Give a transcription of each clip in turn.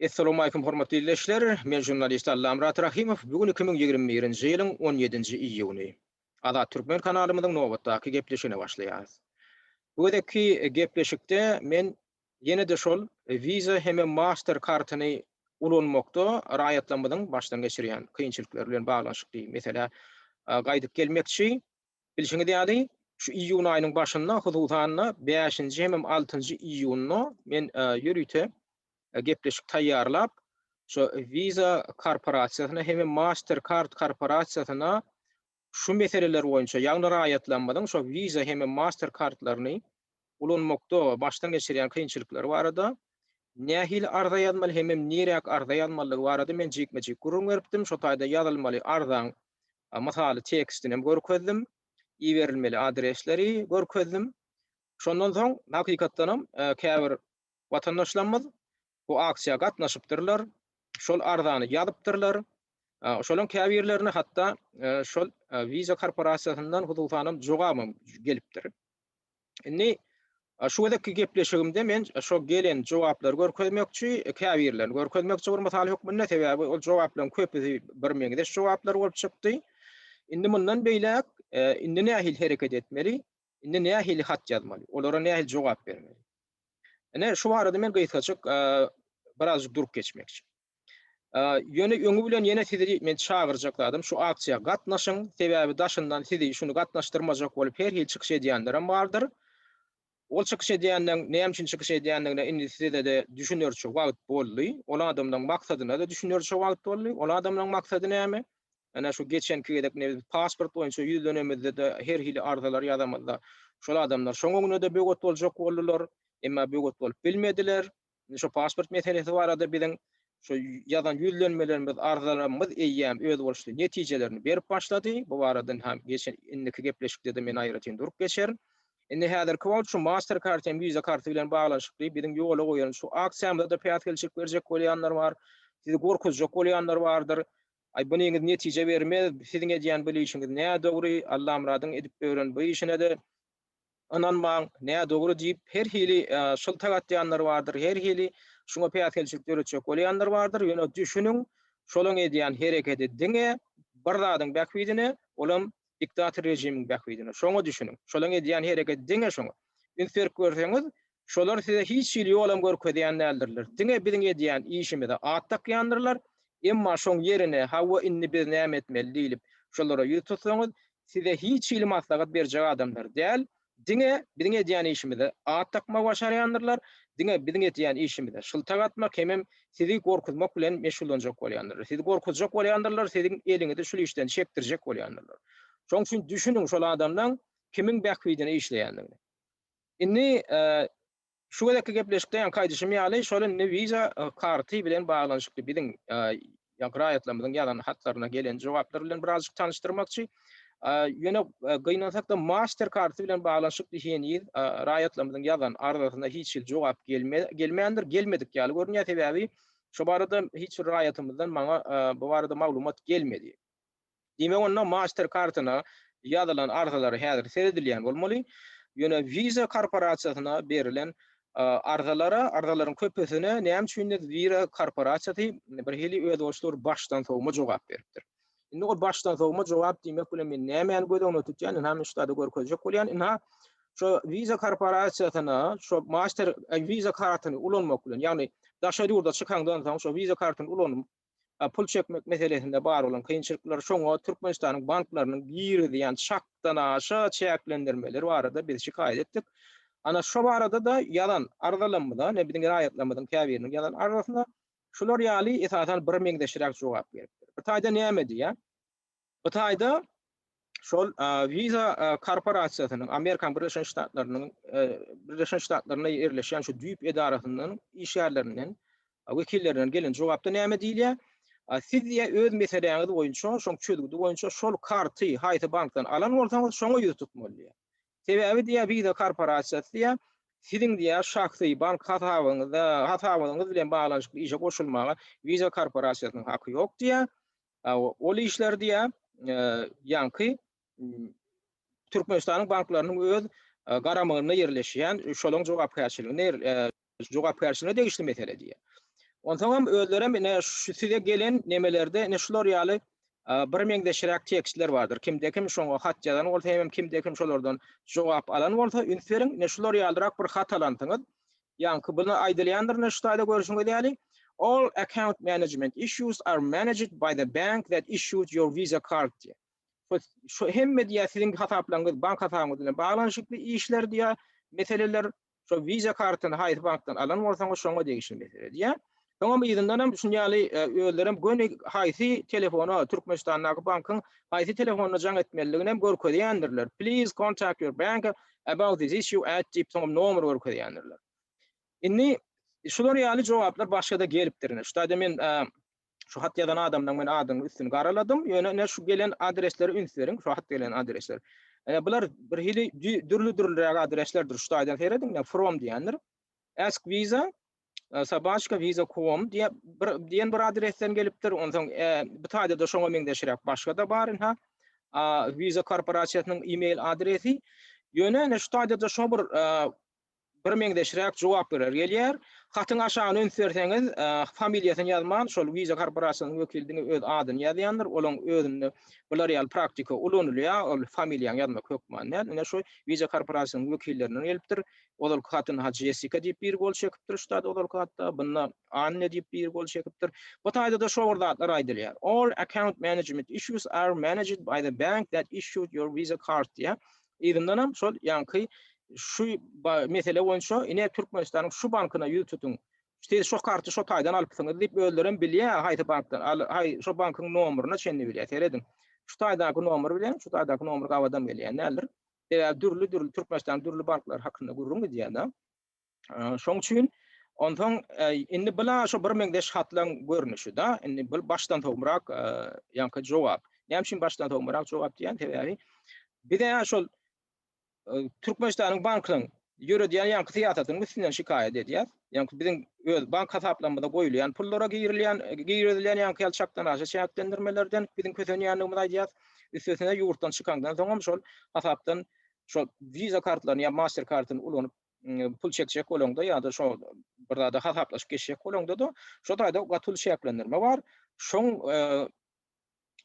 Essalamualeýkum hormatly ildeşler, men žurnalist Allamyrat Rahymow, bu gün iki müň ýigrimi birinji ýylyň on ýedinji iýuny. Azat Türkmen kanalymyzyň nobatdaky gepleşigine başlaýarys. Bu gezekki gepleşikde men ýene-de şol Visa hemem Master kartyny ulanmakda raýatlarymyzyň başdan geçirýän kynçylyklary bilen baglanyşykly meselä gaýdyp gelmekçi. Bilşiňiz ýaly, şu iýun aýynyň başynda, hususan-da, bäşinji hemem altynjy iýunda men ýörite gepleşik taýýarlap, şu Visa korporasiýasyna hemem Mastercard korporasiýasyna şu meseleler boýunça, ýagny raýatlarymyzyň şu Visa hemem Mastercard-laryny ulanmakda başdan geçirýän kynçylyklary barada nähili arza ýazmaly hemem niräk arza ýazmalydygy barada men jikme-jik gürrüň beripdim. Şo taýda ýazylmaly arzaň mysaly tekstinem görkezdim, iberilmeli adresleri görkezdim. Şondan soň hakykatdanam käbir watandaşlarymyz bu aksiýa gatnaşypdyrlar, şol arzany ýazypdyrlar. Şolaryň käbirlerine hatda şol Visa korporasiýasyndan hususanam jogabam gelipdir. Indi şu gezekki gepleşigimde men şo gelen jogaplary görkezmekçi, käbirlerini görkezmekçi bir mysal hökmünde, sebäbi ol jogaplaryň köpüsi birmeňzeş jogaplar bolup çykdy. Indi mundan beýläk indi nähili hereket etmeli? Indi nähili hat ýazmaly? Olara nähili jogap bermeli? Ine, şu barada men gysgajyk birazjyk durup geçmekçi. Ýöne öňi bilen ýene sizi men çagyrjak zadym, şu aksiýa gatnaşyň, sebäbi daşyndan sizi şuny gatnaşdyrmajak bolup her hili çykyş edýänlerem bardyr. Ol çykyş edýänden, näme üçin çykyş edýändigine indi size-de düşünerçe wagt boldy. Ol adamlaryň maksadyna-da düşünerçe wagt boldy. Ol adamlaryň maksady näme? Ene şu geçenki gezek ne biz pasport boýunça ýüzlenemizde-de her hili arzalar ýazamyzda şol adamlar şoň öňüne-de böwet boljak boldular, emma böwet bolup bilmediler. Indi şu pasport meselesi barada biziň şu ýazan ýüzlenmelerimiz, arzalarymyz eýýäm özboluşly netijelerini berip başlady. Bu barada ynha geçen indiki gepleşikde-de men aýratyn durup geçerin. Indi häzirki wagt şu Master Card hem Visa karty bilen baglanyşykly biziň ýola goýan şu aksiýamyza-da päsgelçilik berjek bolýanlar bar. Sizi gorkuzjak bolýanlar bardyr. Aý bu niňiz netije bermez, siziň edýän bul işiňiz nädogry, Allamyradyň edip ören bu işine-de ynanmaň, nädogry diýip her hili şyltak atýanlar bardyr, her hili şuňa päsgelçilik döretjek bolýanlar bardyr, ýöne düşüniň, şolaň edýän herekedi diňe bir zadyň bähbidine, olam diktator režimiň bähbidine, şoňa düşüniň, şolaň edýän herekedi diňe şoňa. Üns berip görseňiz, Şolar size hiç hili ýolam görkezýän däldirler. Diňe biziň edýän işimize at dakýandyrlar. Emma şoň ýerine, Hawa, indi biz näme etmeli? diýlip, şolara ýüz tutsaňyz, size hiç hili maslahat berjek adamlar däl. Diňe biziň edýän işimize at dakmagy başarýandyrlar. Diňe biziň edýän işimize şyltak atmak hemem sizi gorkuzmak bilen meşgullanjak bolýandyrlar. Sizi gorkuzjak bolýandyrlar, siziň eliňizi şul işden çekdirjek bolýandyrlar. Şoň üçin düşüniň şol adamlaň kimiň bähbidine işleýändigine. Indi şu gezekki gepleşikde ýaňky aýdyşym ýaly, şol indi wiza karty bilen baglanyşykly biziň ýaňky raýatlarymyzyň ýazan hatlaryna gelen jogaplar bilen birazajyk tanyşdyrmakçy. Ýöne gynansak-da master karty bilen baglanyşykly heniz raýatlarymyzyň ýazan arzasyna hiç hili jogap gelmändir, gelmedik ýaly görünýär, sebäbi şo barada hiç bir raýatymyzdan maňa bu barada maglumat gelmedi. Diýmek onda Master kartyna ýazylan arzalary häzir seredilýän bolmaly. Ýöne Visa korporasiýasyna berilen arzalara, arzalaryň köpüsine näme üçindir Visa korporasiýasy bir hili özboluşly bir başdan sowma jogap beripdir. Indi ol başdan sowma jogap diýmek bilen men nämäni göz öňünde tutýan, ynha men şu taýda görkezjek bolýan. Ynha şu Visa korporasiýasyna şu Master Visa kartyny ulanmak bilen, ýagny daşary ýurda çykaňdan soň şu Visa kartyny ulanyp, pul çekmek meselesinde bar bolan kynçylyklar, şoňa Türkmenistanyň banklarynyň girizýän çakdanaşa çäklendirmeleri barada biz şikaýat etdik. Ana, şo barada-da ýazan arzalarymyza, ine, biziň raýatlarymyzyň käbiriniň ýazan arzasyna şular ýaly, esasan, birmeňzeşräk jogap gelipdir. Bir taýdan näme diýýär? Hytaýda şol Visa korporasiýasynyň, Amerika Birleşen Ştatlarynyň Birleşen Ştatlarynda ýerleşýän şu düýp edarasyndan işgärlerinden, wekillerinden gelen jogapda näme diýilýär? Siz diýe öz meseläňiz boýunça, şoň çözgüdi boýunça şol karty haýsy bankdan alan bolsaňyz, şoňa ýüz tutmaly diýýär. Sebäbi diýýär, Visa korporasiýasy diýýär, siziň diýýär şahsy bank hasabyňyzda, hasabyňyz bilen baglanyşykly işe goşulmaga Visa korporasiýasynyň haky ýok diýýär. Ol işler diýýär, ýaňky Türkmenistanyň banklarynyň öz garamagynda ýerleşýän, şolaryň jogapkärçiliginde ýerleşýän, jogapkärçiligine degişli mesele diýýär. Onsoňam özlerem ine şu size gelen nemelerde ine şular ýaly birmeňzeşräk tekstler bardyr. Kimde-kim şoňa hat ýazan bolsa hemem kimde-kim şolardan jogap alan bolsa üns beriň, ine şular ýalyrak bir hat alansyňyz, Ýaňky buna aýdylýandyr ne şu taýda görüşiňiz ýaly, All account management issues are managed by the bank that issued your Visa card diýýär. Şu hemme diýýär siziň hasaplaryňyz bank hasabyňyz bilen baglanyşykly işler diýýär, meseleler, şo Visa kartyny haýsy bankdan alan bolsaňyz şoňa degişli mesele diýýär. Soňam yzyndanam şuny ýaly özlerem göni haýsy telefona, Türkmenistandaky bankyň haýsy telefonyna jaň etmelidiginem görkezýändirler, please contact your bank about this issue at diýip soňam nomer görkezýändirler. Indi şular ýaly jogaplar başgada gelipdir ine şutada men şu hat ýazan adamdan men adyny üstüni garaladym ýöne ine şu gelen adresleri üns beriň şu hat gelen adresler ine bular bir hili dürli dürliräk adreslerdir şutaýdan seredin ine from diýendir ask visa e, Sabaçka Visa Kuom diye bir diyen bir adresden gelipdir. Ondan e, bir tane de şoňa meňzeşirek başga da bar ha. Visa korporasyýasynyň e-mail adresi. Ýöne ene şu taýda da şo bir e, bir meňzeşirek jogap berer gelýär. Hatyň aşagyna üns berseňiz, e, familiýasyny ýazman, şol Visa korporasyýasynyň wekiliniň öz adyny ýazýandyr. Olaň özünde bular ýaly praktika ulanylýar. Ol familiýany ýazmak hökmany. Ene şu Visa korporasyýasynyň wekillerinden gelipdir. Ozalky hatyn Hajy Jessika diýip biri gol çekipdir Üstad ozalky hatda, bunda Anne diýip biri gol çekipdir. Bu taýda-da şo bir zatlar aýdylýar. All account management issues are managed by the bank that issued your Visa card diýýär. Yzyndanam şol ýaňky şu mesele boýunça ine Türkmenistanyň şu bankyna ýüz tutuň. Siz şo karty şo taýdan alypsyňyz diýip özlerem bilýär haýsy bankdan haý şo bankyň nomeryna çenli bilýär. Serediň. Şu taýdaky nomer bilen şu taýdaky nomer gabat hem gelýän däldir. Sebäbi dürli-dürli Türkmenistanyň dürli banklary hakynda gürrüň gidýär-de. Şoň üçin onsoň indi bu-la şu birmeňzeş hatlaryň görnüşi-de, indi bu başdan sowmarak ýaňky jogap. Näme üçin başdan sowmarak jogap diýýän? Sebäbi biz-ä şol Türkmenistanyň banklaryň ýöredýän ýaňky syýasatynyň üstünden şikaýat edýär. Ýaňky biziň öz bank hasaplarymyza goýulýan pullara girilýän, girizilýän ýaňky ýaly çakdan aşa çäklendirmelerden biziň kösenýändigimizi aýdýar. Üstesine ýurtdan çykaňdan soň hem şol hasapdan şol Visa kartlaryny ýa Master kartyny ulanyp pul çekjek bolaňda ýa-da şo bir zada hasaplaşyp geçjek bolaňda-da şo taýda gaty uly çäklendirme bar. Şoň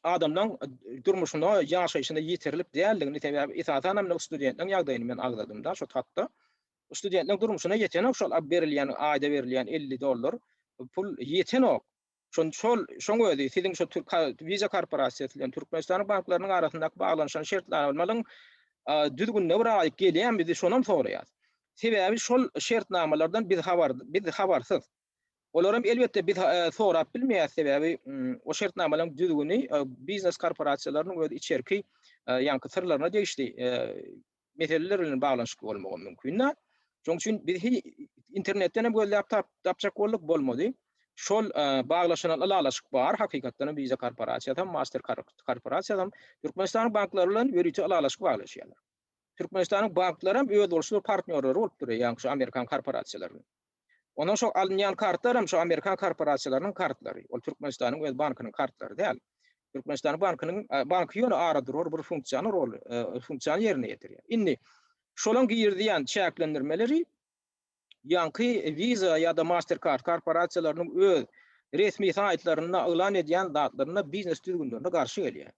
adamlaň durmuşyna, ýaşaýşyna ýeterlik däldigini, sebäbi esasan hem indi studentleň ýagdaýyny men agzadym-da şo hatda. Studentleň durmuşyna ýetenok şol berilýän, aýda berilýän elli dollar pul ýetenok. Şon şol, şoň özi siziň şo türk Visa korporasiýasy bilen Türkmenistanyň banklarynyň arasyndaky baglanyşan şertnamalaryň düzgünine bir aýyk gelýänmi, biz şonam soraýas. Sebäbi şol şertnamalardan biz habar, biz habarsyz. Olaram elbetde biz sorap bilmeýäs sebäbi o şertnamalaryň düzgüni biznes korporasiýalarynyň öz içerki ýaňky syrlaryna degişli meseleler bilen baglanyşykly bolmagy mümkinde. Şoň üçin biz internetden hem gözläp tapjak bolduk bolmady. Şol baglaşylan ylalaşyk bar hakykatdan hem Visa korporasiýasy hem Master korporasiýasy hem Türkmenistanyň banklary bilen ýörite ylalaşyk baglaşýarlar. Türkmenistanyň banklary hem öz bolşy partnýorlary bolup durýar ýaňky şu amerikan korporasiýalarynyň. Ondan soň alynýan kartlar hem şu amerikan korporasiýalarynyň kartlary. Ol Türkmenistanyň öz bankynyň kartlary däl. Türkmenistanyň bankynyň banky ýöne aradurar bir funksiýany rol funksiýany ýerine ýetirýär. Indi şolaň girizýän çäklendirmeleri ýaňky Visa ýa-da Mastercard korporasiýalarynyň öz resmi saýtlarynda yglan edýän zatlarynda biznes düzgünlerine garşy gelýär.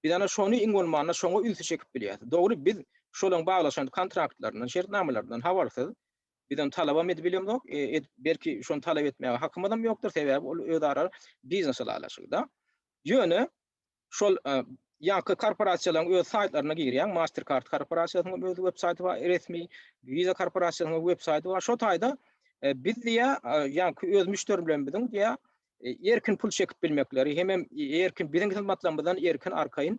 Biz ana şony iň bolmanda şoňa ünsi çekip bilýäris. Dogry biz şolaň baglaşan kontraktlaryndan, şertnamalaryndan habarsyz. Biz ony talabam edip bilemzok, edip belki şony talap etmäge hakymyzam ýokdur, sebäbi ol özara biznes ylalaşygy-da. Ýöne şol ýaňky korporasiýalaryň öz saýtlaryna girýäň, Mastercard korporasiýasynyň hem öz web saýty bar, resmi Visa korporasiýasynyň web saýty bar. Şo taýda biz diýýär, ýaňky öz müşderilerimiziň diýýär, erkin pul çekip bilmekleri hemem erkin biziň hyzmatlarymyzdan erkin arkaýyn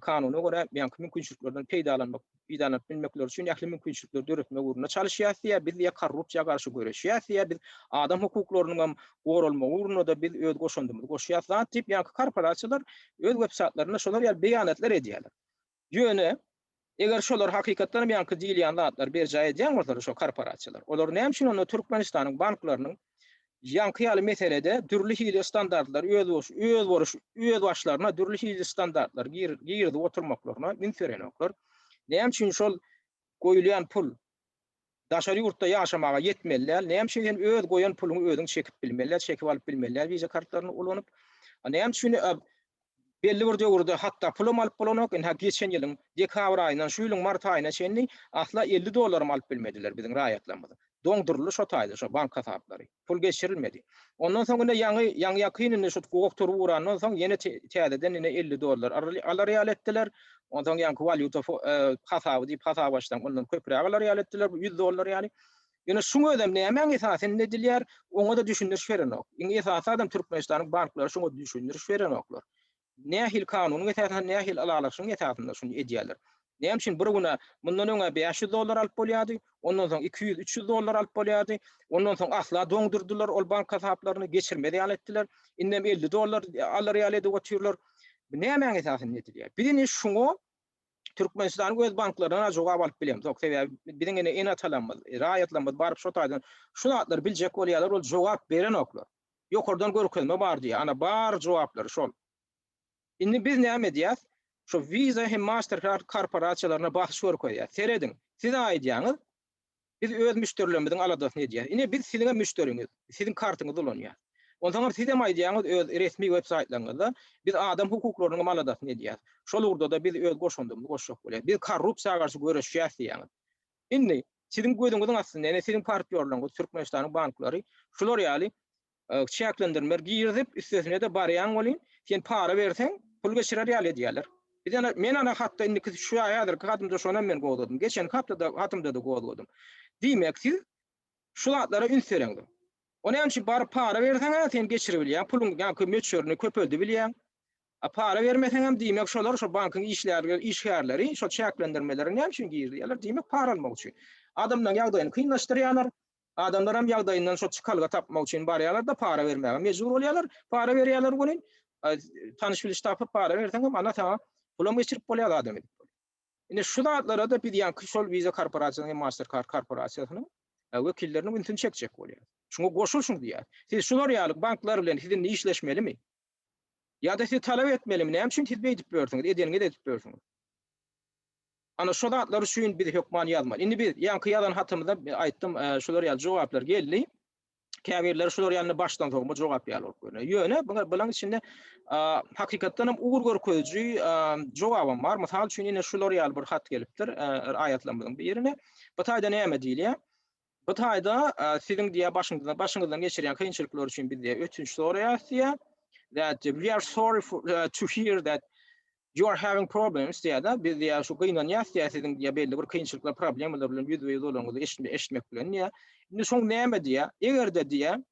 kanuna görä beýanky mümkinçiliklerden peýdalanmak peýdalanyp bilmekleri üçin ähli mümkinçilikleri döretmek ugrunda çalyşýarys diýýär. Biz diýýär korrupsiýa garşy göreşýäris diýýär. Biz adam hukuklarynyň hem goralmagy ugrunda-da biz öz goşandymyzy goşýarys zat diýip ýaňky korporasiýalar öz websaýtlarynda şolar ýaly beýanatlar edýärler. Ýöne, eger şolar hakykatdan hem ýaňky diýilýän zatlary berjaý edýän bolsalar, şo korporasiýalar, olar näme üçin onda Türkmenistanyň banklarynyň ýaňky ýaly meselede dürli hili standartlary özbaşlaryna dürli hili standartlary girizip oturmaklaryna üns berenoklar? Näme üçin şol goýulýan pul daşary ýurtda ýaşamaga ýetmeli däl. Näme üçin sen öz goýan puluňy özüň çekip bilmeli däl, çekip alyp bilmeli däl wiza kartlaryny ulanyp. Näme üçin belli bir döwürde hatda pulam alyp bolanok, indi ha geçen ýylyň dekabr aýyndan şu ýylyň mart aýyna çenli asla elli dollaram alyp bilmediler biziň raýatlarymyz. Doňduryldy şo taýda şo bank hasaplary. pul geçirilmedi. Ondan soň ine ýaňy ýaňy-ýakyn indi şu gugak tury gurandan soň ýene täzeden ine elli dollar alar ýaly etdiler. Ondan soň ýaňky walýuta hasaby diýip hasap açsaň ondan köpräk alar ýaly etdiler bu ýüz dollar ýaly. Ýöne şuň özem nämäň esasynda edilýär oňa-da düşündiriş berenok. Iň esasy adam Türkmenistanyň banklary şuňa düşündiriş berenoklar. Nähili kanunyň esasynda, nähili ylalaşygyň esasynda şuny edýärler? Näme üçin bir güne mundan öňe bäş ýüz dollar alyp bolýardy, ondan soň iki ýüz, üç ýüz dollar alyp bolýardy, ondan soň asla doňdurdylar ol bank hasaplaryny, geçirmez ýaly etdiler, indem elli dollar alar ýaly edip otyrlar. Bu nämäň esasynda edilýär? Biz indi şuňa Türkmenistanyň öz banklaryndan-a jogap alyp bilemzok. Sebäbi biziň ene-atalarymyz, raýatlarymyz baryp şo taýdan şu zatlary biljek bolýarlar, ol jogap berenoklar. Ýokardan görkezme bar diýýär. Ana bar jogaplary şol. Indi biz näme edýäs? Şu Visa hem Mastercard korporasiýalaryna basyş görkezýäs. Serediň, siz aýdýaňyz, biz öz müşderilerimiziň aladasyny edýäs. Ine biz siziňem müşderiňiz, siziň kartyňyzy ulanýas. Onsoňam sizem aýdýaňyz öz resmi web saýtlaryňyzda, biz adam hukuklarynyňam aladasyny edýäs. Şol ugurda-da biz öz goşandymyzy goşjak bolýas. Biz korrupsiýa garşy göreşýäs diýýäňiz. Indi, siziň gözüňiziň astynda, ýene siziň partýorlaryňyz, Türkmenistanyň banklary şular ýaly çäklendirmeler girizip, üstesine-de barýaň welin, sen para berseň, pul geçirer ýaly edýärler. Biz ana, men ana hatda indiki şu häzirki hatymda şonam men gozgadym. Geçenki haptada hatymda-da gozgadym. Diýmek, siz şu zatlara üns bereňdir. O näme üçin baryp para berseň-ä, sen geçiribilýäň, puluň ýaňky möçberini köpeldibilýäň. A para bermeseňem diýmek şolar şo bankyň işlärleri işgärleri şo çäklendirmeleri näme üçin girizýärler diýmek para almak üçin. Adamlaryň ýagdaýyny kynlaşdyrýalar. Adamlaram ýagdaýyndan şo çykalga tapmak üçin barýalarda para bermäge mejbur bolýalar. Para berýäler welin tanyş biliş tapyp para berseňem ana saňa pulam geçirip bolýar adam edip. Indi şu zatlarada biz ýaňky şol visa korporasiýasynyň hem master kart korporasiýasynyň wekilleriniň ünsüni çekjek bolýar. Şuňa goşulşyň diýýär. Siz şular ýaly banklar bilen siz indi işleşmelimi? Ýa-da sizi talap etmelimi? Näme üçin siz beýdip börsüňiz? Edeniňizi edip börsüňiz. Ana şo zatlar üçin biz hökman ýazmaly. Indi biz ýaňky ýazan hatymyzda aýtdym, şular ýaly jogaplar geldi. Käbirleri şular ýaly başdan sogma jogap ýaly bolup görünýär. Ýöne bularyň içinde hakykatdan hem ugur görkeziji jogabam bar. Mysal üçin ine şular ýaly bir hat gelipdir aýatlarymyzyň birine. Bu taýda näme diýilýär? Bu taýda siziň diýýär başyňyzdan başyňyzdan geçirýän kynçylyklar üçin biz diýýär ötünç soraýarys diýýär. That we are sorry for, uh, to hear that you are having problems diýýär da biz diýýär şu gynanýarys diýýär siziň diýýär belli bir kynçylyklar problemalar bilen ýüzbe ýüz bolanyňyzy eşitmek bilen diýýär. Indi şoň näme diýýär? Eger-de diýýär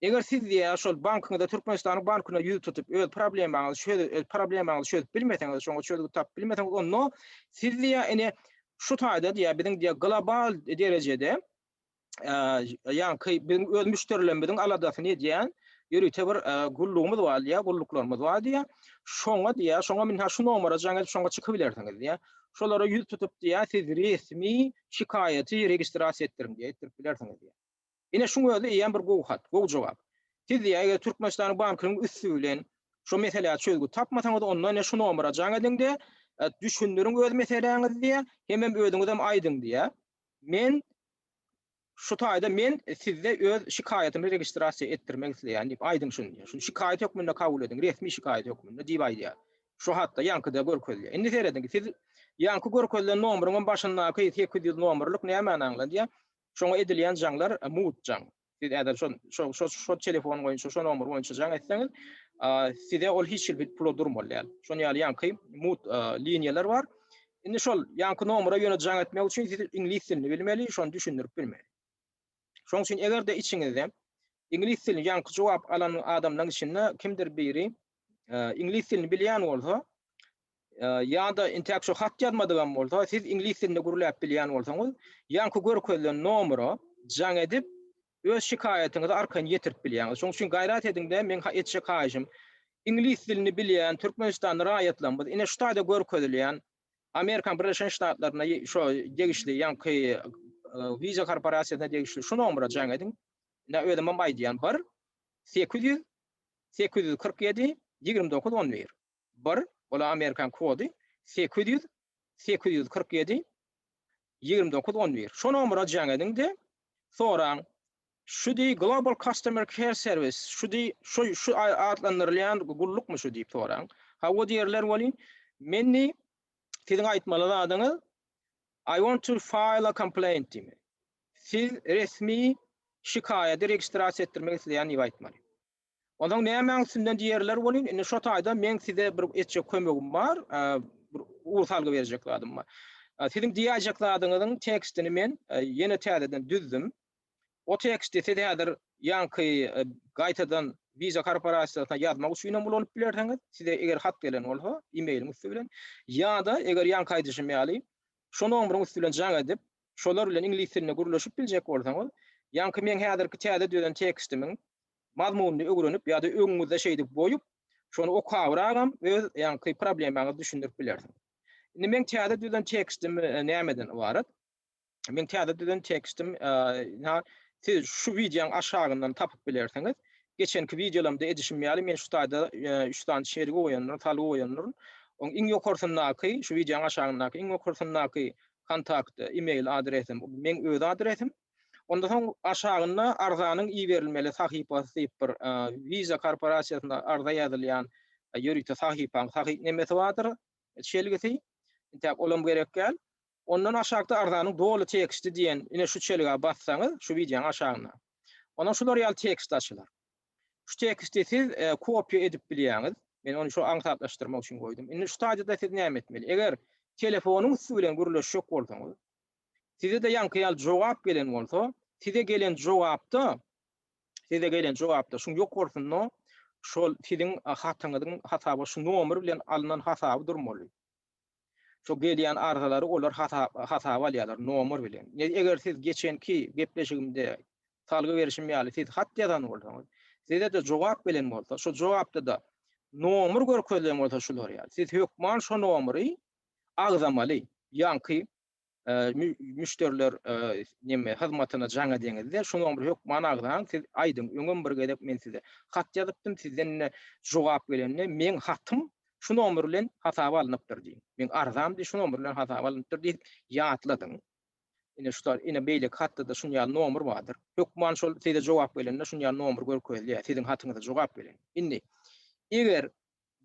Eger siz ýa şol bankyňyzda Türkmenistanyň bankyna ýüz tutup öz problemaňyzy çöz öz problemaňyzy çözüp bilmeseňiz şoňa çözgüt tapyp bilmeseňiz onda siz diýýä ine şu taýda diýýä biziň diýýä global derejede ýaňky biziň öz müşderilerimiziň aladasyny edýän ýörite bir gullugymyz bar diýýä gulluklarymyz bar diýýä şoňa diýýä şoňa mine şu nomera jaň edip şoňa çykyp bilersiňiz diýýä şolara ýüz tutup diýýä siz resmi şikaýaty registrasiýa etdiriň diýýä etdirip bilersiňiz diýýä. Ine şuň özi eýýäm bir gowy hat, gowy jogap. Siz diýýär, eger Türkmenistanyň bankynyň üsti bilen şu meselä çözgüt tapmasaňyz, onda ine şu nomera jaň ediň-de, düşündiriň öz meseläňizi diýýär, hemem özüňizem aýdyň diýýär. Men şu taýda men sizde öz şikaýatymy registrasiýa etdirmek isleýän diýip aýdyň şuny diýýär. Şuny şikaýat hökmünde kabul ediň, resmi şikaýat hökmünde diýip aýdýar. Şu hatda ýaňkyda görkezilýär. Indi serediň, siz ýaňky görkezilen nomeryň hem başyndaky sekiz ýüz nomerlik nämäni aňladýar? Şoňa edilýän jaňlar mugt jaň. Siz ädel şo şo şo telefon boýunça, şo nomer boýunça jaň etseňiz, size ol hiç hili pula durmaly däl. Şonuň ýaly ýaňky mugt liniýalar bar. Indi şol ýaňky nomera ýöne jaň etmek üçin siz iňlis dilini bilmeli, şony düşündirip bilmeli. Şoň üçin eger-de içiňizde iňlis dilini ýaňky jogap alan adamlaryň içinde kimdir biri iňlis dilini bilýän bolsa, ýa-da intäk şu hat ýazmadygam bolsa, siz iňlis dilinde gürläp bilýän bolsaňyz, ýaňky görkezilen nomera jaň edip, öz şikaýatyňyzy arkaýyn ýetirip bilýäňiz. Şonuň üçin gaýrat ediň-de, meň etjek haýyşym, iňlis dilini bilýän türkmenistanly raýatlarymyz, ine şu taýda görkezilýän Amerikanyň Birleşen Ştatlaryna şo degişli ýaňky Visa korporasiýasyna degişli şu nomera jaň ediň. Ine, özümem aýdýan, bir, sekiz ýüz, sekiz ýüz kyrk ýedi ýigrimi dokuz on bir bir Ol amerikan kody sekiz ýüz sekiz ýüz kyrk ýedi ýigrimi dokuz on bir Şo nomera jaň ediň-de, soraň, Şu deý Global Customer Care Service, şu deý şo şu atlandyrylýan gullukmy şu diýip soraň. Hawa diýerler welin, men deý siziň aýtmaly zadyňyz I want to file a complaint diýmeli. Siz resmi şikaýady registrasiýa etdirmek isleýän diýip aýtmaly. Onsoň nämäň üstünden diýerler welin, indi şo taýda meň size bir etjek kömegim bar, bir ugur salgy berjek zadym bar. Siziň diýäýjek zadyňyzyň tekstini men ýene täzeden düzdüm. O teksti siz häzir ýaňky gaýtadan Visa korporasiýasyna ýazmak üçin hem ulanyp bilersiňiz, size eger hat gelen bolsa, e-mailiň üsti bilen, ýa-da eger ýaňky aýdyşym ýaly, şo nomeriň üsti bilen jaň edip, şolar bilen iňlis dilinde gürleşip biljek bolsaňyz, ýaňky meň häzirki täze düzen tekstimiň mazmunyny öwrenip ýa-da öňüňizde şeýdip goýup, şony okabragam öz ýaňky problemaňyzy düşündirip bilersiňiz. Indi meň täze düzen tekstim nämeden ybarat? Meň täze düzen tekstim siz şu wideoň aşagyndan tapyp bilersiňiz. Geçenki wideolarymda edişim ýaly men şu taýda üç sany şergi goýandyryn, salgy goýandyryn. Oň iň ýokarsyndaky, şu wideoň aşagyndaky iň ýokarsyndaky kontakt e-mail adresim, bu meň öz adresim. Onda soň aşagynda arzanyň iberilmeli sahypasy diýip bir Visa korporasiýasyna arza ýazylýan ýörite sahypaň sahyp nemesi bardyr, çelgisi. Intäk olam gerek däl. Ondan aşakda arzanyň doly teksti diýen ine şu çelgä bassaňyz, şu wideoň aşagynda. Onda şular ýaly tekst açylar. Şu teksti siz kopiýa edip bilýäňiz. Men ony şo aňsatlaşdyrmak üçin goýdum. Indi şu taýda-da siz näme etmeli? Eger telefonyň üsti bilen gürleşjek bolsaňyz, Size-de ýaňky ýaly jogap gelen bolsa, size gelen jogapda, size gelen jogapda şuň ýokarysynda şol siziň hatyňyzyň hasaba şu nomer bilen alnan hasaby durmaly. Şu gelýän arzalary olar hasaba alýarlar nomer bilen. Eger siz geçenki gepleşigimde salgy berişim ýaly siz hat ýazan bolsaňyz, size-de jogap gelen bolsa, şu jogapda-da nomer görkezilen bolsa şular ýaly, siz hökman şu nomeri agzamaly. Ýaňky müşderiler neme hyzmatyna jaň edeňizde şonuň bir hökman agzaň siz aýdyň öňem bir gezek men size hat ýazypdym sizden ine jogap gelende meň hatym şu nomer bilen hasaba alnypdyr diýiň meň arzam şu nomer bilen hasaba alnypdyr diýip ýatladyň ine şu ine beýleki hatda-da şuny ýaly nomer bardyr hökman şol size jogap gelende şuny ýaly nomer görkezýär siziň hatyňyza jogap gelen indi eger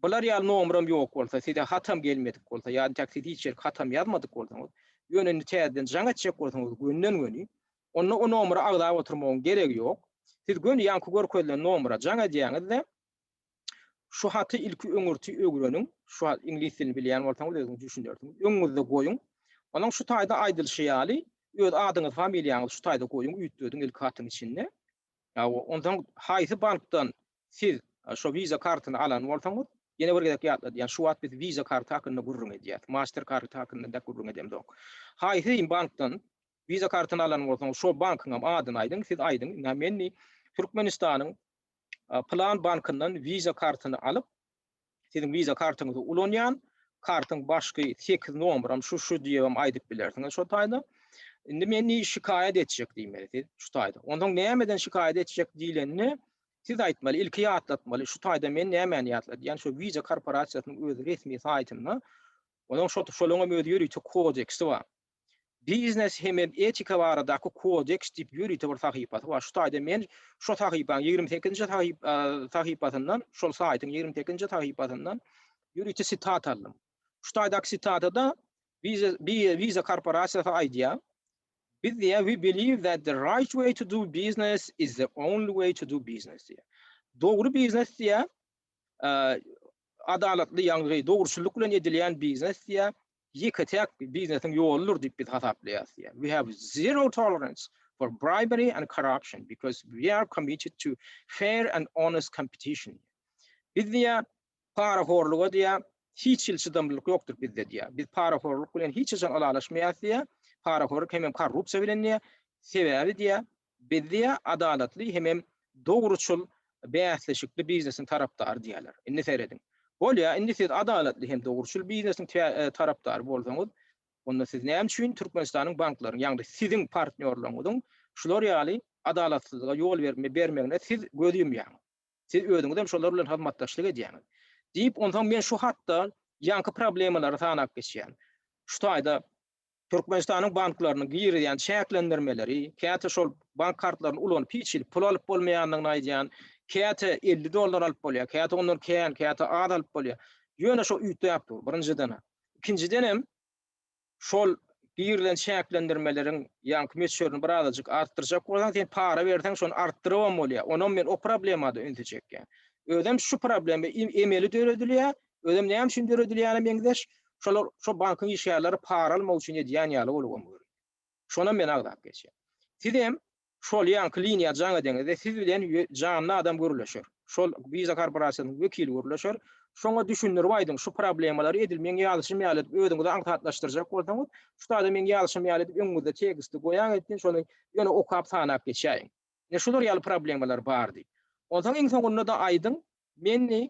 Bular ýaly nomeram ýok bolsa, size hatam gelmedik bolsa, ýa intäk siz hiç ýerki hatam ýazmadyk bolsaňyz, ýöne indi täzeden jaň etjek bolsaňyz gönden-göni, onda o nomera agzap oturmagyň geregi ýok. Siz göni ýaňky görkezilen nomera jaň edýäňiz-de, şu haty ilki öňürti öwreniň, şu hat, iňlis dilini bilýän bolsaňyz özüňiz düşünersiňiz, öňüňizde goýuň. Onuň şu taýda aýdylyşy ýaly, öz adyňyzy, familiýaňyzy şu taýda goýuň, üýtgediň ilki hatyň içinde. Ýa onsoň haýsy bankdan Siz şo visa kartyny alan bolsaňyz, ýene bir gezek ýatladýan, şu wagt biz visa karty hakynda gürrüň edýäs, master karty hakynda dek gürrüň edemzok. Haýsy deýin bankdan visa kartyny alan bolsaňyz, şo bankyňam adyny aýdyň, siz aýdyň, men türkmenistanyň pylan bankyndan visa kartyny alyp, Siziň Visa kartyňyzy ulanýan, kartyň başky sekiz nomeram şu şu diýibem aýdyp bilersiňiz şo taýda. Indi men ni şikaýat etjek diýmeli siz şu taýda. Onsoň nämeden şikaýat etjek diýlende siz aýtmaly, ilki ýatlatmaly şu taýda men nämäni ýatladýan şu Visa korporasiýasynyň öz resmi saýtynda onuň şo şolaryň hem öz ýörite kodeksi bar. Biznes hemem etika baradaky kodeks diýip ýörite bir sahypasy bar. Şu taýda men şo sahypaň ýigrimi sekizinji sahypasyndan, şol saýtyň ýigrimi sekizinji sahypasyndan ýörite sitata aldym. Şu taýdaky sitatada Visa korporasiýasy aýdýar, Biz diýýär, we believe that the right way to do business is the only way to do business diýýär. Dogry biznes diýýär, adalatly ýagny dogruçyllyk bilen edilýän biznes diýýär, Ýeke-täk biznesiň ýoludyr diýip biz hasaplaýarys diýýär. We have zero tolerance for bribery and corruption because we are committed to fair and honest competition. Biz diýýär, parahorluga diýýär, hiç hili çydamlylyk ýokdur bizde diýýär. Biz parahorluk bilen hiç haçan ylalaşmaýarys diýýär. Parahorlyk hemem korrupsiýa bilen diýýär. Sebäbi diýýär, Bizde adalatly hemem dogruçyl bäsleşikli biznesiň tarapdary diýýärler. Indi serediň. Bolýa, indi siz adalatly hem dogruçyl biznesiň tarapdary bolsaňyz, onda siz näme üçin Türkmenistanyň banklaryň, ýagny siziň partnýorlaryňyzyň şular ýaly adalatsyzlyga ýol bermegine siz göz ýumýaňyz? Siz özüňiz hem şolar bilen hyzmatdaşlyk edýäňiz. Diýip, onsoň men şu hatda ýaňky problemalary sanap geçýän. Şu taýda Türkmenistanyň banklarynyň girizýän çäklendirmeleri, käte şol bank kartlaryny ulanyp hiç hili pul alyp bolmaýandygyny aýdýan, käte elli dollar alyp bolýar, käte ondan kän, käte az alyp bolýar. Ýöne şo üýtgäp dur, birinjiden. Ikinjidenem, şol girilen çäklendirmeleriň ýaňky möçberini bir azajyk artdyrjak bolsaň, sen para berseň, şony artdyrybam bolýar. Onam men o problemada ünsi çekýän. Özem şu problema emeli döredilýär, Özem näme üçin döredilýäne meňzeş, şolar şo bankyň işgärleri para almak üçin edýän ýaly bolup oň görün. Şonam men agzap geçýän. Sizem şol ýaňky liniýa jaň edeňizde siz bilen janly adam gürleşer. Şol Visa korporasiýasynyň wekili gürleşer. Şoňa düşündirip aýdyň şu problemalary edil meň ýazyşym ýaly edip özüňizi aňsatlaşdyrjak bolsaňyz, şu sada meň ýazyşym ýaly edip öňüňizde teksti goýaň etsin şony ýöne okap sanap geçäýiň. Ine şular ýaly problemalar bar diýip. Onsoň iň soňunda-da aýdyň, menni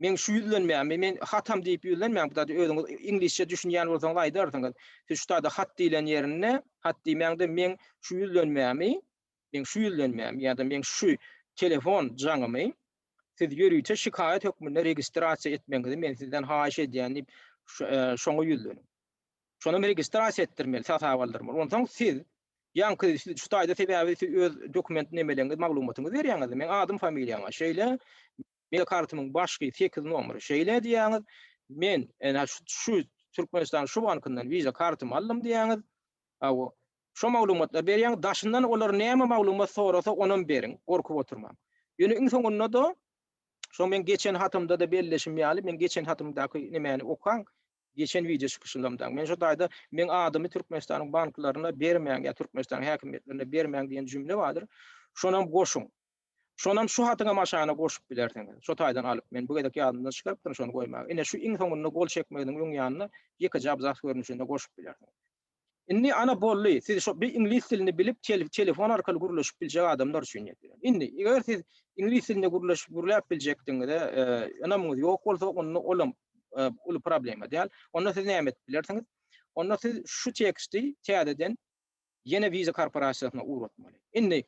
Meň şu ýüzlenmämi men hatam diýip ýüzlenmäň, bu zady özüňiz iňlisçe düşünýän bolsaňyz aýdarsyňyz. Siz şu zada hat diýlen ýerinde hat diýmäň-de meň şu ýüzlenmämi, meň şu ýüzlenmämi ýa-da meň şu telefon jaňymy siz ýörite şikaýat hökmünde registrasiýa etmegiňizi men sizden haýyş edýän diýip şoňa ýüzleniň. Şonam registrasiýa etdirmeli, hasaba aldyrmaly. Onsoň siz ýaňky siz şu taýda sebäbi siz öz dokument nemeleňiz maglumatyňyzy berýäňiz-de, meň adym-familiýama şeýle, Meniň kartymyň başky sekiz nomeri şeýle diýýäňiz. Men ene şu Türkmenistanyň şu bankyndan Visa kartymy aldym diýýäňiz. Hawa. Şo maglumatlary berýäňiz. Daşyndan olar näme maglumat sorasa, onam beriň. Gorkup oturmaň. Ýöne iň soňunda-da, şo meň geçen hatymda-da belleşim ýaly, meň geçen hatymdaky nemäni okaň, geçen wideo çykyşymda-da. Men şo taýda Meň adymy Türkmenistanyň banklaryna bermäň ýa Türkmenistanyň häkimiýetlerine bermäň diýen jümle bardyr. Şonam goşuň. Şonam şu hatyňam aşagyna goşup bilersiňiz. Şo taýdan alyp, men bu gezek ýadymdan çykarypdyryn şony goýmagy. Ine, şu iň soňunda gol çekmeginiň öň ýanyna ýekeje abzas görnüşinde goşup bilersiňiz. Indi, ana, boldy. Siz şo bir iňlis dilini bilip, telefon arkaly gürleşip biljek adamlar üçin ýetiren. Indi, eger siz iňlis dilinde gürleşip, gürläp biljekdigiňize ynamyňyz ýok bolsa, onda olam uly problema däl. Onda siz näme edip bilersiňiz? Onda siz şu teksti täzeden ýene Visa korporasiýasyna ugratmaly. Indi,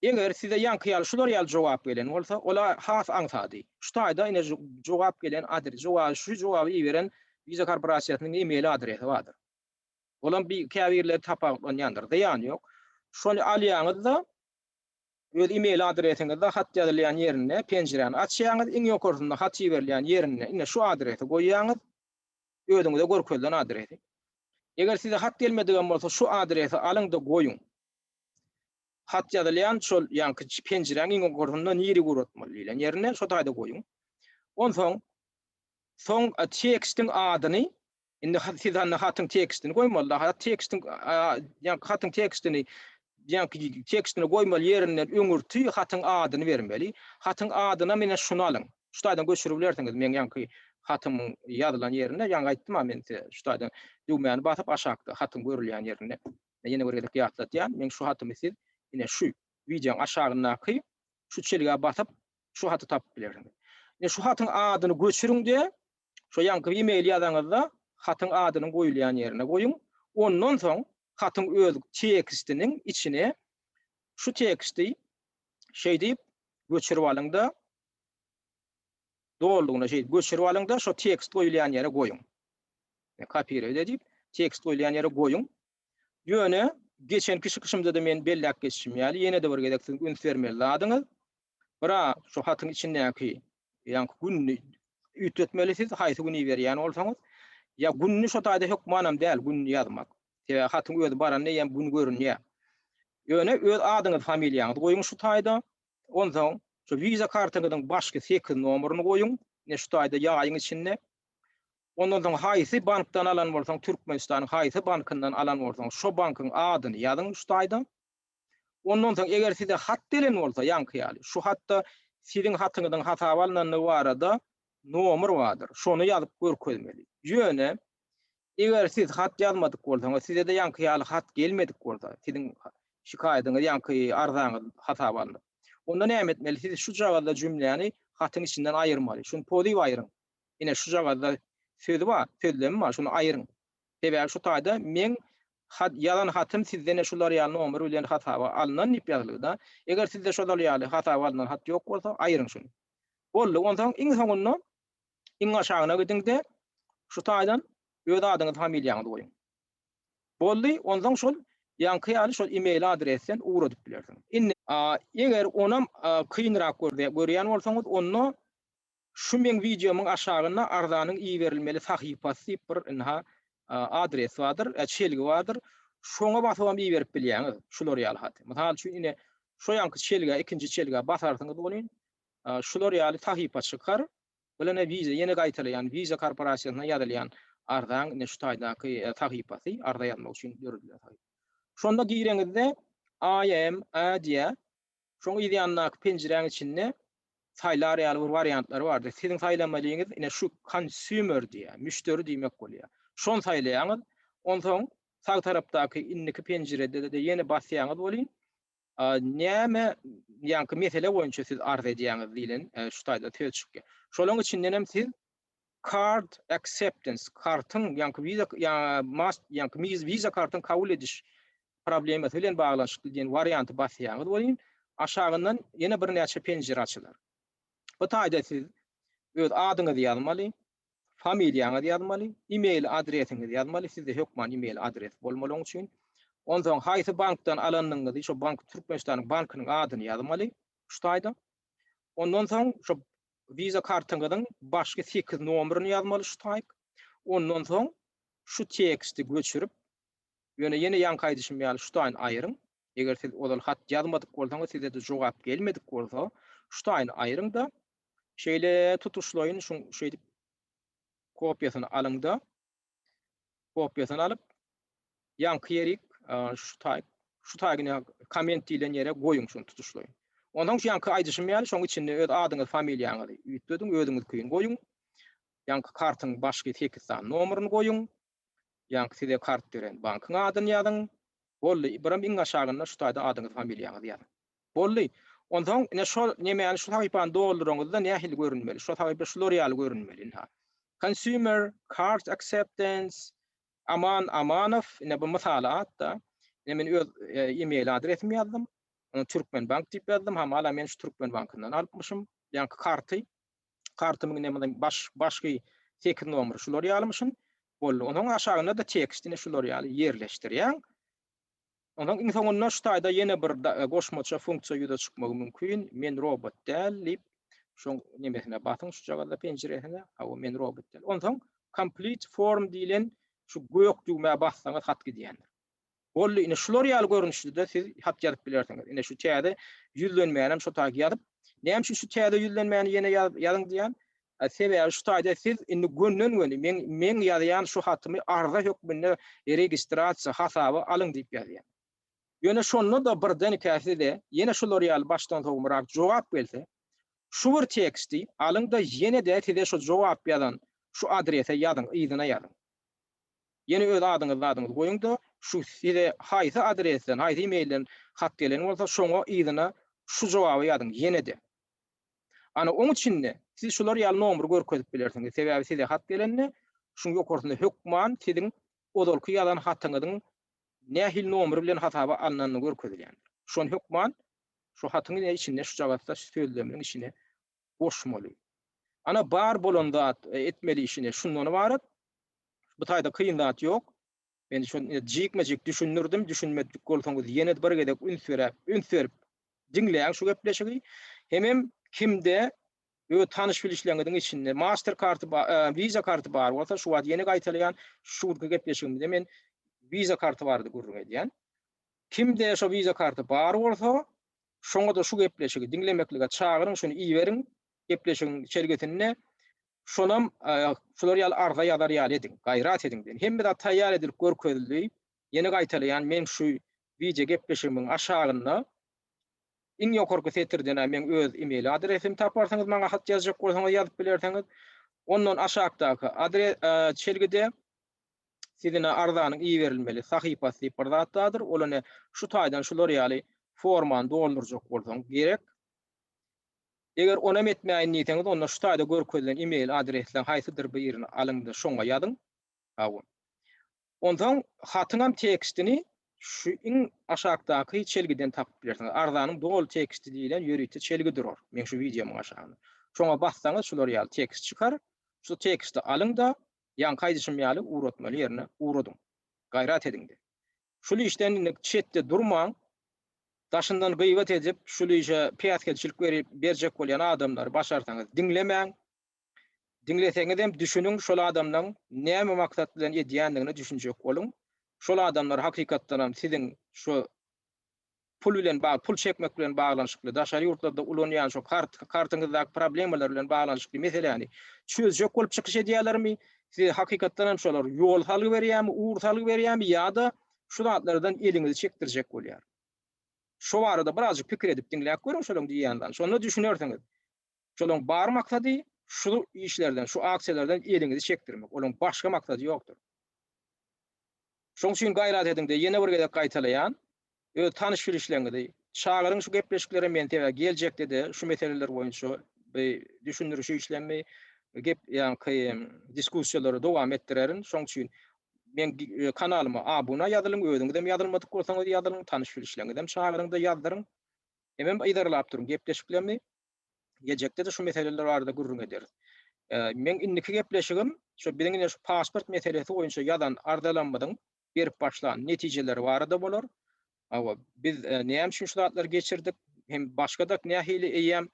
eger size ýaňky ýaly şular ýaly jogap gelen bolsa, ola has aňsady. Şu taýda ine jogap gelen adres, jogaby şu jogaby iberen Visa korporasiýasynyň e-mail adresi bardyr. Olam bir käbirleri tapawutlanýandyr. Zyýany ýok. Şony alýaňyzda, öz e-mail adresiňizde hat ýazylýan ýerinde penjiräni açýaňyz, iň ýokarsynda hat iberilýän ýerinde ine şu adresi goýýaňyz, özüňize görkezilen adresi. Eger size hat gelmedigem bolsa şu adresi alyňda goýuň. Hat ýazylýan şol ýaňky penjiräň iň ýokarsynda niri guratmaly diýlen ýerine şo taýda goýuň. Onsoň soň tekstiň adyny indi siz hatyň tekstini goýmaly. Hat tekstiň ýaňky hatyň tekstini Jaňky tekstini goýmaly ýerinden öňürti hatyň adyny bermeli. Hatyň adyna menen şuny alyň. Şu taýdan göçürip bilersiňiz. Meň ýaňky hatymyň ýazylan ýerinde, ýaňky aýtdym-a men size, şu taýdan düwmäni basyp aşakda hatyň görülýän ýerinde. Men ýene bir gezek ýatladýan, meň şu hatymy siz ine şu wideoň aşagyndaky şu çelgä basyp şu haty tapyp bilersiňiz. Ine şu hatyň adyny göçüriň-de, Şo ýaňky e-mail ýazaňyzda hatyň adynyň goýulýan ýerine goýuň. Ondan soň hatyň öz tekstiniň içine şu teksti şeýdip göçürip alyň-da, dolugyna şeýdip göçürip alyň-da, şo tekst goýulýan ýere goýuň. Kopirewde diýip, tekst goýulýan ýere goýuň. Ýöne geçenki çykyşymda-da men belläp geçişim ýaly, ýene-de bir gezek siziň üns bermeli zadyňyz, Bira şu hatyň içindäki ýaňky gününi üýtgetmeli siz haýsy güni berýän bolsaňyz. Ýa gününi şo taýda hökmanam däl gününi ýazmak. Sebäbi hatyň özi baranda eýýäm gün görünýär. Ýöne öz adyňyzy familiýaňyzy goýuň şu taýda. Onsoň şu wiza kartaňyzyň başky sekiz nomeryny goýuň ine şu taýda ýaýyň içinde. Ondan soň haýsy bankdan alan bolsaň Türkmenistanyň haýsy bankyndan alan bolsaň şo bankyň adyny ýazyň şu taýda. Ondan soň eger size hat gelen bolsa, ýaňky ýaly, şu hatda siziň hatyňyzyň hasaba alnandygy barada nomer bardyr, şony ýazyp görkezmeli. Ýöne, eger siz hat ýazmadyk bolsaňyz, size-de ýaňky ýaly hat gelmedik bolsa, siziň şikaýatyňyz, ýaňky arzaňyz hasaba alnyp, onda näme etmeli? Siz şu jagazda jümläni hatyň içinden aýyrmaly. Şuny poziw aýyryň. Ine, şu jagazda söz bar, sözlem bar, şuny aýyryň. Sebäbi şu taýda meň hat ýazan hatym sizden-ä şular ýaly nomer bilen hasaba alnan diýip ýazylyda. Eger sizde şolar ýaly hasaba alnan hat ýok bolsa, aýryň şuny. Boldy, onsoň iň soňunda iň aşagyna gidiň-de, şu taýdan öz adyňyzy, familiýaňyzy goýuň. Boldy, onsoň şol ýaňky ýaly şol e-mail adresden ugradyp bilersiňiz. Indi. Eger onam kynrak görýän bolsaňyz, onda Şu meň wideomyň aşagynda arzanyň iberilmeli sahypasy diýip bir ynha adres bardyr, çelgi bardyr. Şoňa basybam iberip bilýäňiz şular ýaly haty. Mysal üçin ine şu ýanky çelgä ikinji çelgä basarsyňyz welin şular ýaly sahypa çykar. Bilene wiza ýene gaýtalaýan wiza korporasiýasyna ýazylýan arzaň ine şu taýdaky sahypasy arza ýazmak üçin döredilen sahypa. Şonda gireňizde IMA diýýär. Şoň yz ýanyndaky penjiräň içinde saýlar ýaly bir wariantlary bardy. Siziň saýlamalyňyz ine şu Consumer diýýär, müşderi diýmek bolýar. Şony saýlaýaňyz. Onsoň sag tarapdaky indiki penjirede-de ýene basýaňyz welin, näme ýaňky mesele boýunça siz arz edýäňiz diýlen şu taýda söz çykýar. Şolaň içindenem siz Card Acceptance, kartyň, ýaňky Visa, Mast, ýaňky Visa kartyň kabul ediş problemasy bilen baglanyşykly diýen warianty basýaňyz welin, aşagyndan ýene birnäçe penjire açylar. Bu taýda siz öz adyňyzy ýazmaly, familiýaňyzy ýazmaly, e-mail adresiňizi ýazmaly, sizde hökman e-mail adresi bolmaly oň üçin. Onsoň haýsy bankdan alanyňyzy, şo bank, Türkmenistanyň bankynyň adyny ýazmaly şu taýda. Ondan soň şo Visa kartyňyzyň başky sekiz nomeryny ýazmaly şu taýk. Ondan soň şu teksti göçürip, ýöne ýene ýaňky aýdyşym ýaly şu taýyny aýryň. Eger siz ozal hat ýazmadyk bolsaňyz, size-de jogap gelmedik bolsa, şu taýyny aýryň-da, şeýle tutuşlaýyn şuň şeýdip kopiýasyny alyň-da, Kopýasyny alyp, ýaňky ýerik şu taý, şu taýyny komment diýlen ýere goýuň şuny tutuşlaýyn. Ondan şu ýaňky aýdyşym ýaly şoň içinde öz adyňyz, familiýaňyzy üýtgediň, özüňiz kyn goýuň. Ýaňky kartyň başky 8 sany nomeryny goýuň. Ýaňky size kart beren bankyň adyny ýazyň. Boldy, bir hem iň aşagynda şu taýda adyňyz, familiýaňyzy ýazyň. Boldy. Onsoň ine şol nemäni şu sahypany dolduraňyzda nähili görünmeli? Şo sahypa şular ýaly görünmeli ynha. Consumer, Cart Acceptance, Aman Amanow, ine bu mysaly atda. Ine men öz email adresimi ýazdym. Ony Türkmenbank diýip ýazdym. Hamala men şu Türkmenbankyndan alypmyşym. Ýaňky karty. Kartymyň ine mundan baş başky sekiz nomeri şular ýalymyşyn. Boldy. Onsoň aşagynda-da tekst ine şular ýaly ýerleşdirýäň. Onuň iň soňunda şu taýda ýene bir goşmaça funksiýa ýüze çykmagy mümkin, Men robot däl diýip, şoň nemesine basyň, şujagazda penjiresine, hawa, men robot däl. Onsoň Complete form diýlen şu gök düwmä bassaňyz hat gidýändir. Boldy, ine şular ýaly görnüşde-de siz hat ýazyp bilersiňiz. Ine şu täze ýüzlenmänem şo taýy ýazyp, näme üçin şu täze ýüzlenmäni ýene ýazyň diýýän, Sebäbi şu taýda siz indi gönden-göni meň meň ýazýan şu hatymy arza hökmünde registrasiýa, hasaba alyň diýip ýazýan. Ýöne şonda-da birdenkä size ýene şular ýaly başdan sowmarak jogap gelse, şu bir teksti alyň-da ýene-de size şu jogap ýazan şu adrese ýazyň, yzyna ýazyň. Ýene öz adyňyz-zadyňyzy goýuň-da, şu size haýsy adresden, haýsy e-mailden hat gelen bolsa, şoňa yzyna şu jogaby ýazyň, ýene-de. Ana, oň üçin-de, siz şular ýaly nomry görkezip bilersiňiz, sebäbi size hat gelende, şuň ýokarsynda hökman siziň ozalky ýazan hatyňyzyň nähili nomry bilen hasaba alnandygy görkezilýändir. Şony hökman şu hatyň içinde şujagazda şu sözleminiň içine goşmaly. Ana, bar bolan zat, etmeli işine şundan ybarat. Bu taýda kyn zat ýok. Men şony jikme-jik düşündirdim, düşünmedik bolsaňyz ýene bir gezek üns beräp, üns berip diňläň şu gepleşigi. Hemem kimde öz tanyş-bilişleriňiziň içinde master karty bar, visa karty bar bolsa, şu wagt ýene gaýtalaýan, şu günki gepleşigimizde men visa karty barada gürrüň edýän. Kimde şu visa karty bar bolsa, şoňa-da şu gepleşigi diňlemeklige çagyryň, şuny iberiň gepleşigiň çelgesinde. Şonam şular ýaly arza ýazar ýaly ediň, gaýrat ediň diýen. Hemme zat taýýar edilip görkezildi. Ýene gaýtalaýan, meň şu wideo gepleşigimiň aşagynda iň ýokarky setirden-ä meň öz email adresimi taparsyňyz, maňa hat ýazjak bolsaňyz ýazyp bilersiňiz. Ondan aşakdaky çelgide siziň arzanyň iberilmeli sahypasy diýip bir zat bardyr. Ol ine şu taýdan şular ýaly formany doldurjak bolsaňyz gerek. Eger onam etmäýin diýseňiz onda şu taýda görkezilen email adresleň haýsydyr birini alyňda şoňa ýazyň. Hawa. Onsoň hatyňam tekstini şu iň aşakdaky çelgiden tapyp bilersiňiz. Arzanyň doly teksti diýlen ýörite çelgi durar meň şu wideomyň aşagynda. Şoňa bassaňyz şular ýaly tekst çykar. Şu teksti alyňda ýaňky aýdyşym ýaly ugratmaly ýerine ugradyň. Gaýrat ediňde. Şul işden indik çetde durmaň. Daşyndan gyýbat edip, şul işe päsgelçilik berip berjek bolýan adamlary başarsaňyz diňlemäň. Diňleseňizem düşüniň şol adamlaň näme maksat bilen edýändigine düşünjek boluň. Şol adamlar hakykatdanam siziň şu pul bilen bagly, pul çekmek bilen baglanyşykly, daşary ýurtlarda ulanýan şu kart, kartyňyzdaky problemalar bilen baglanyşykly meseläni çözjek bolup çykyş edýälermi? Size hakykatdan hem şolar ýol salgy berýärmi, ugur salgy berýärmi ýa-da şu zatlardan eliňizi çekdirjek bolýar? Şo barada birazjyk pikir edip diňläp görüň şolaryň diýýänlerini. Şonda düşünersiňiz. Şolaryň bar maksady şu işlerden, şu aksiýalardan eliňizi çekdirmek. Olaryň başga maksady ýokdur. Şoň üçin gaýrat ediňde ýene bir gezek gaýtalaýan, öz tanyş-bilişleriňizi çagyryň şu gepleşiklere men sebä geljekde-de şu meseleler boýunça bir düşündiriş işlemmi, gep ýaňky diskussiýalary dowam etdirerin. Şoň üçin meň kanalyma abuna ýazylyň, özüňizem ýazylmadyk bolsaňyz ýazylyň, tanyş-bilişleriňizem çagyryňda ýazdyryň. Hemem yzarlap duruň gepleşiklerini. Geljekde-de şu meseleler barada gürrüň ederis. Meň indiki gepleşigim şu biziň ine şu pasport meselesi boýunça ýazan arzalamyzyň berip başlan netijeleri barada bolar. Hawa, biz näme üçin şu zatlary geçirdik? Hem başga-da nähili eýýäm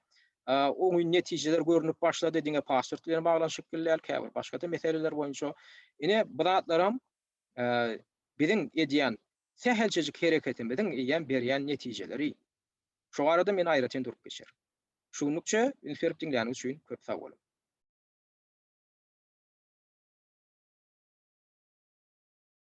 oňyn netijeler görnüp başlady, diňe pasport bilen baglanyşykly däl, käbir başga-da meseleler boýunça. Ine, bu zatlaram Biziň edýän sähelçejik hereketimiziň eýýäm berýän netijeleri. Şu barada men aýratyn durup geçerin. Şu günlükçe üns berip diňläniňiz üçin köp sag boluň.